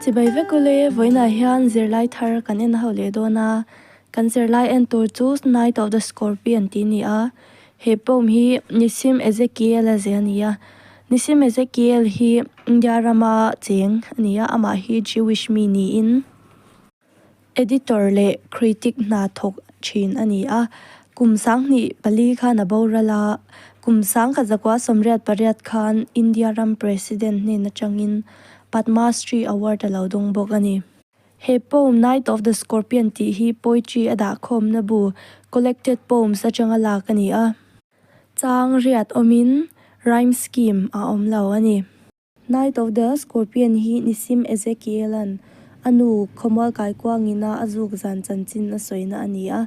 Chibai vek u le, vawiinah hian zirlai thar kan en hauh leh dawn a, kan zirlai en tur chu Night of the Scorpion tih ni a, he poem hi Nissim Ezekiel a zeh a ni a, Nissim Ezekiel hi India rama cheng a ni a, amah hi Jewish mi niin. Editor leh critic hna thawk thin a ni a, Kum Sang hnih pali khan a boral a, Kum Sang ka zakua sawmriat pariat khan India ram President hnen atangin Padma Shri Award a lo dawng bawk a ni. He poem Night of the Scorpion tih hi poetry a dahkhawmna bu Collected Poems atanga lak a ni a, chang riat awmin rhyme scheme a awm lo a ni. Knight of the Scorpion hi Nisim Ezekiel-a'n a nu Khawmual Kaikuangina a zuk zan chanchin a sawina a ni a.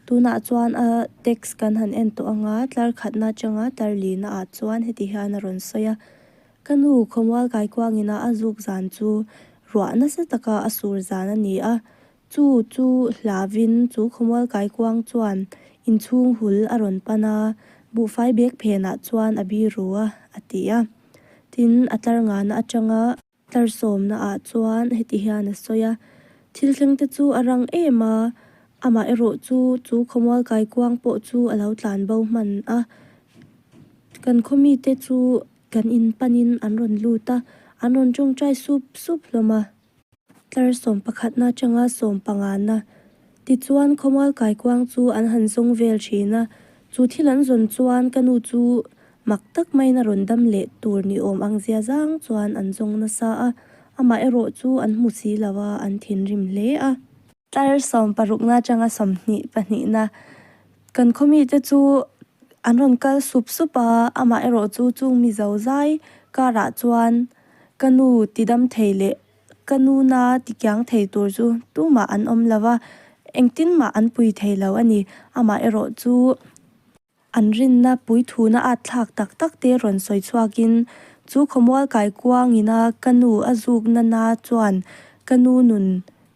Tunah chuan a text kan han en tawh anga tlar khatna atanga tlar lihna ah chuan heti hian a rawn sawi a, Ka nu Khawmual Kaikuangina a zuk zan chu ruah nasa taka a sur zan a ni a, Chu chu hlavin chu khawmual kaikuang chuan inchhung hul a rawn pan a, buhfai bek phenah chuan a biru a, a ti a. Tin, a tlar ngana atanga. Tlar sawmnaah chuan heti hian a sawi a, Thil thlengte chu a rang em a, amaherawh chu chu khawmual kaikuang pawh chu a lo tlan bo hman a. Kan khaw mite chu kan in panin an rawn lut a, an rawn tawngtai sup sup hlawm a. tlar sawm pakhatna atanga sawm panganna. Tichuan khawmual kaikuang chu an han zawng vel thin a, chu thil an zawn chuan ka nu chu mak tak main a rawn dam leh tur ni awm ang zia zang chuan an zawng nasa a, amaherawhchu an hmu si lo a, an thinrim hle a. Tlar sawm parukna atanga sawmhnih pahnihna kan khaw mite chu an rawn kal sup sup a, amah erawh chu chung mizo zai karah chuan ka nu ti dam thei leh ka nuna ti kiang thei tur chu tumah an awm lo va, engtinmah an pui thei lo a ni, amah erawh chu An rinna puithuna atthlak tak tak te rawn sawi chhuak in, chu khawmual kaikuang ina ka nu a zuk nana chuan ka nu nun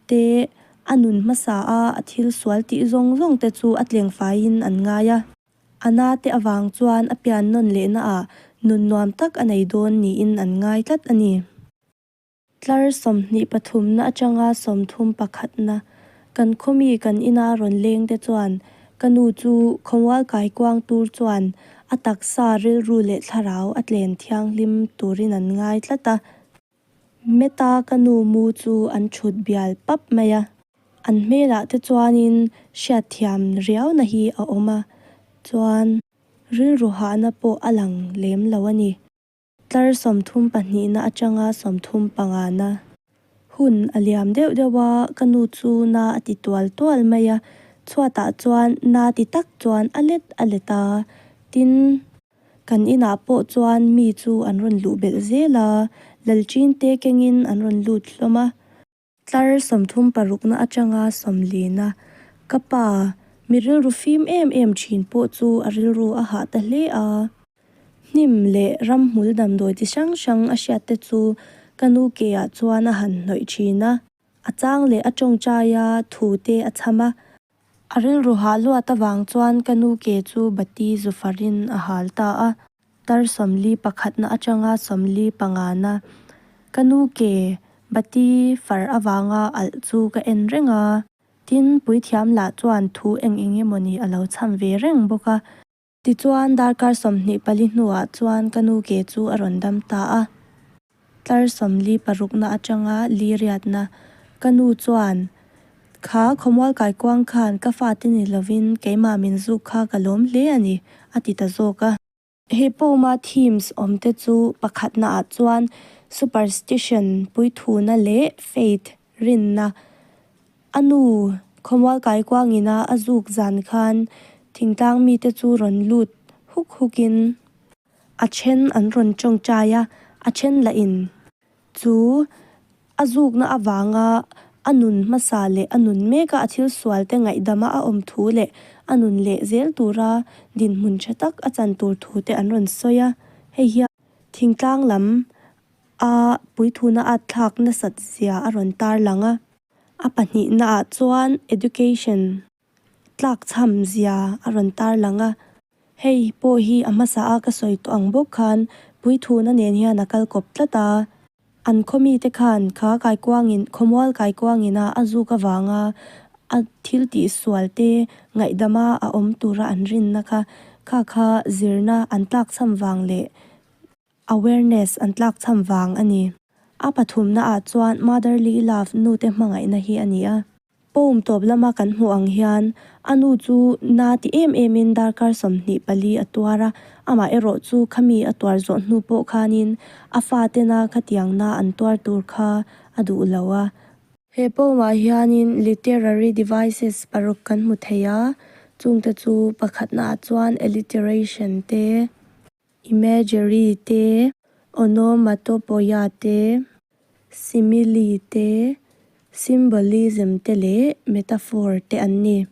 te a nun hmasa a a thil sual tih zawng zawng te chu a tleng fai in an ngai a. A na te avang chuan a pian nawn leh na ah nun nuam tak a nei dawn niin an ngai tlat a ni. Tlar sawmhnih pathumna atanga sawmthum pakhatna kan khawmi kan ina rawn lengte chuan ka nu chu khawmual kaikuang tur chuan a taksa rilru leh thlarau a tlen thianghlim turin an ngai tlat a. Meta ka nu mu chu an thut bial pap mai a. An hmelah te chuanin hriatthiam riauna hi a awm a, chuan rilru hahna pawh a lang lem lo a ni. Tlar sawmthum pahnihna atanga sawmthum pangana. Hun a liam deuh deuh a, ka nu chu na a ti tual tual mai a, chhuatah chuan na ti tak chuan a let a let a, tin. Kan inah pawh chuan mi chu an rawn luh belh zel a, Lalchinte kengin an rawn lut hlawm a. Tlar sawmthum parukna atanga sawmlina ka pa mi rilru fim em em thin pawh chu a rilru a hah ta hle a. Hnim leh ramhmul damdawi chi hrang hrang a hriat te chu ka nu ke ah chuan a han hnawih thin a, a chang leh a tawngtai a thu te a chham a, A rilru hah luat avang chuan ka nu ke chu bati zu farin a hal ta a. Tar sawmli pakhatna atanga sawmli panga na. Ka nu ke bati far avanga alh chu ka en reng a. Tin, Puithiam lah chuan thu eng eng emaw ni a lo chham ve reng bawk a. Tichuan darkar sawmhnih pali hnuah chuan ka nu ke chu a rawn dam ta a, tlar sawmli parukna atanga liriatna. Ka nu chuan, Kha, khawmual kaikuang khan ka fate ni lovin keimah min zuk kha ka lawm hle a ni, a ti ta zawk a. He pawma themes awmte chu pakhatnaah chuan superstition, puithuna leh faith, rinna, A nu Khawmual Kaikuangina a zuk zan khan thingtlang mite chu rawn lut huk hukin. A then an rawn tawngtai a, a then lahin chu a zukna avanga a nun hmasa leh a nun meka a thil sualte ngaihdama a awm thu leh a nun leh zel tura dinhmun tha tak a chan tur thu te an rawn sawi a. Hei hian thingtlang lam a puithuna at thlak nasat zia a rawn tarlang a. A pahnihna ah chuan education tlak chham zia a rawn tar lang a. Hei pawh hi a hmasa a ka sawi tawh ang bawk khan puithuna nen hian a kal kawp tlat a. An khawmi te khan kha kaikuang in khawmual kaikuang in a a zuk avang a a thil tih sual te ngaihdam a a awm tur a an rinna kha kha kha zirna an tlak chham vang leh awareness an tlak cham vang a ni. A pathumnaah chuan motherly love nute hmangaihna hi a ni a. Poem tawp lama kan hmuh ang hian a nu chu na ti em emin darkar sawmhnih pali a tuar a, amah erawh chu khami a tuar zawh hnu pawh khanin a fa tena khatiang na an tuar tur kha a duh lo a. He poem ah hianin literary devices paruk kan hmu thei a, chungte chu pakhatnaah chuan alliteration te, Imagery te, Onomatopoeia te, Simile te, Symbolism te leh Metaphor te an ni.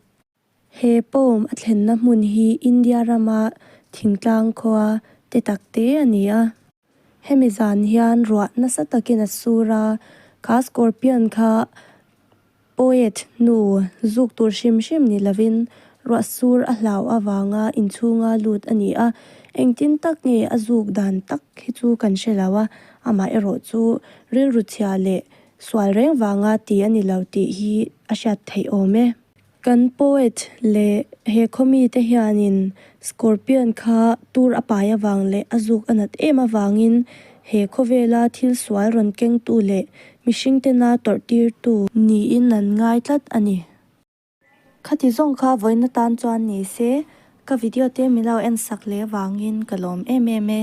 He poem a thlenna hmun hi India rama thingtlang khua te tak te a ni a. Hemi zan hian ruah nasa takin a sur a, ka scorpion kha Poet hnu zuk tur hrim hrim ni lovin ruahsur a hlau avanga inchhunga lut a ni a, engtin tak nge a zuk dan tak hi chu kan hre lo a, amaherawh chu rilru chhia leh sual reng vanga ti a ni lo tih hi a hriat theih awm e. Kan poet leh he khawmi te hianin Scorpion kha tur a pai avang leh a zuk a nat em avangin He khawvela thil sual rawn kengtu leh mihring tena tawrh tirtu. Niin an ngai tlat a ni. Khati zawng kha vawina tan chuan ni se ka video te milo en sak leh vangin ka lawm em em e.